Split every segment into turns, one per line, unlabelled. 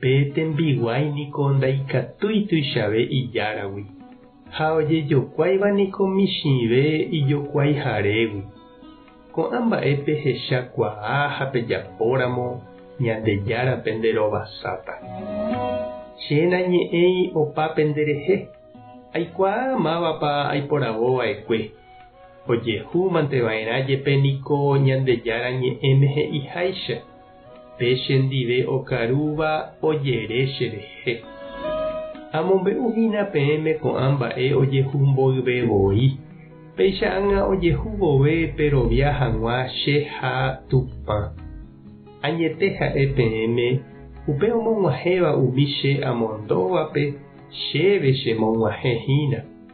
Pe tembiguái niko ndaikatúi tuichave ijáragui, ha ojejokuáiva niko michĩve ijokuaiharégui. Ko'ã mba'e pehecha kuaa ha pejapóramo Ñandejára pende rovasáta. Che nañe'ẽi opa pende rehe, aikuaa mávapa aiporavo vaekue. Ojehúmante vaerã jepe niko Ñandejára Ñe'ẽme he'iháicha. Pe che ndive okarúva ojere che rehe. Amombe'u hína peẽme ko'ã mba'e ojehu mboyve voi, péicha ág̃a ojehu vove perovia hag̃ua che ha Tupã. Añete ha'e peẽme, upe omog̃uahẽva umi che amondóvape, chéve chemog̃uahẽ hína.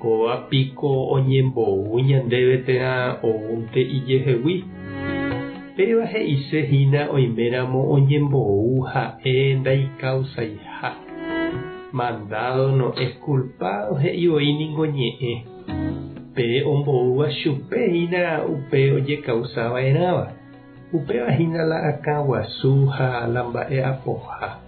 Kóva piko oñembou ñandéve térã oúnte ijehegui. Péva he'ise hína oiméramo oñembou ha'e ndaikausaiha. Mandado no es culpado he'i voi ningo ñe'ẽ. Pe omboúva chupe hína upe ojekausa va'erãva. Upéva hína la akã guasu ha la mba'e apoha.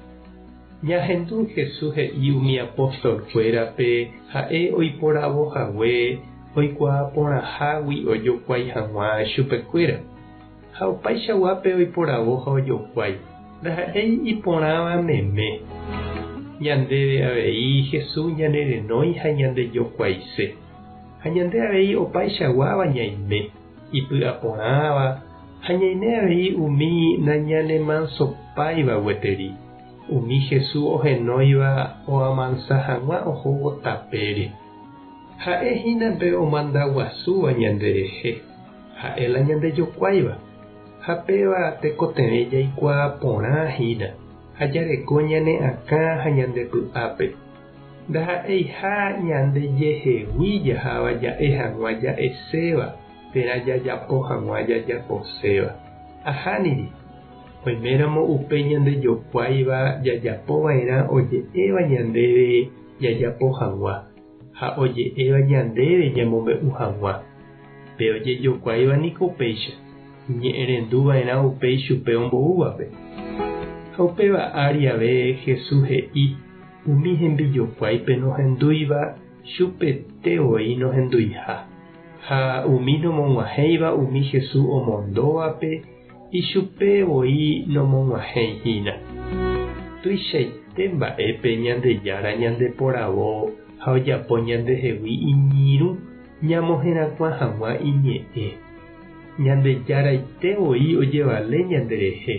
Ñahendu Jesús he'i umi apóstolkuérape ha'e oiporavo hague oikuaa porãhágui ojokuái hag̃ua chupekuéra. Ha opaichaguápe oiporavo ha ojokuái, ndaha'éi iporãva meme. Ñandéve avei Jesús ñanerenói ha ñandejokuaise, ha ñande avei opaichaguáva ñaime. ipy'aporãva ha ñaime avei umi nañanemansopaíva gueteri, umi Jesús ohenóiva oamansa hag̃ua ohóvo tapére. Ha'e hína pe omanda guasúva ñanderehe, ha'e la ñandejokuáiva, ha péva tekotevẽ jaikuaa porã hína ha jareko ñane akã ha ñande py'ápe. Ndaha'eiha ñande jehegui jaháva ja'e hag̃ua ja'eséva térã jajapo hag̃ua jajaposéva. Ahániri, oiméramo upe ñandejokuáiva jajapo va'erã oje'éva ñandéve jajapo hag̃ua ha oje'éva ñandéve ñamombe'u hag̃ua. Pe ojejokuáiva niko upéicha, iñe'ẽrendu va'erã upéi chupe omboúvape. Ha upéva ári ave Jesús he'i, Umi hembijokuái pe nohendúiva chupe te voi nohenduiha, ha umi nomog̃uahẽiva umi Hesu omondóvape ichupe voi nomog̃uahẽi hína. Tuichaite mba'épe Ñandejára ñandeporavo ha ojapo ñandehegui iñirũ ñamoherakuã hag̃ua iñe'ẽ. Ñandejáraite voi ojevale ñanderehe.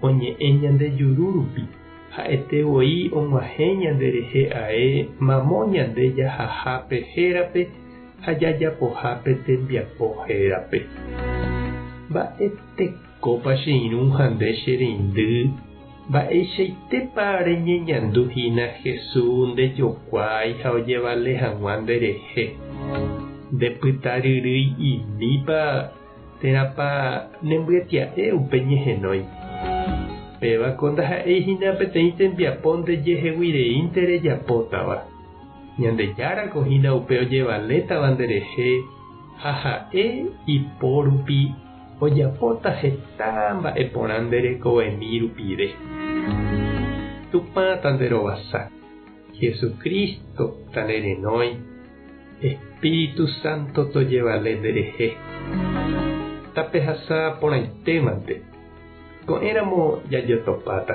Oñe'ẽ ñande juru rupi, ha'ete voi og̃uahẽ ñande rehe ae mamo ñande jahaha pe hérape ha jajapoha pe tembiapo hérape. Mba'e tekópa che irũ ha nde che reindy, mba'eichaitépa reñeñandu hína Hesu ndejokuaái ha ojevale hag̃ua nde rehe. Ndepyta ryrýi imípa Térãpa nembyatya'e upe ñehenói? Pévako ndaha'éi hína peteĩ tembiapo ndejeheguireínte rejapótava. Ñandejárako hína upe ojevalétava nderehe ha ha'e ipórupi ojapóta heta mba'e porã nde rekovemi rupive. Tupã tanderovasa. Jesucristo tanderenói. Espíritu Santo tojevale nderehe. Tapehasa porãitémante, ko'ẽramo jajotopáta.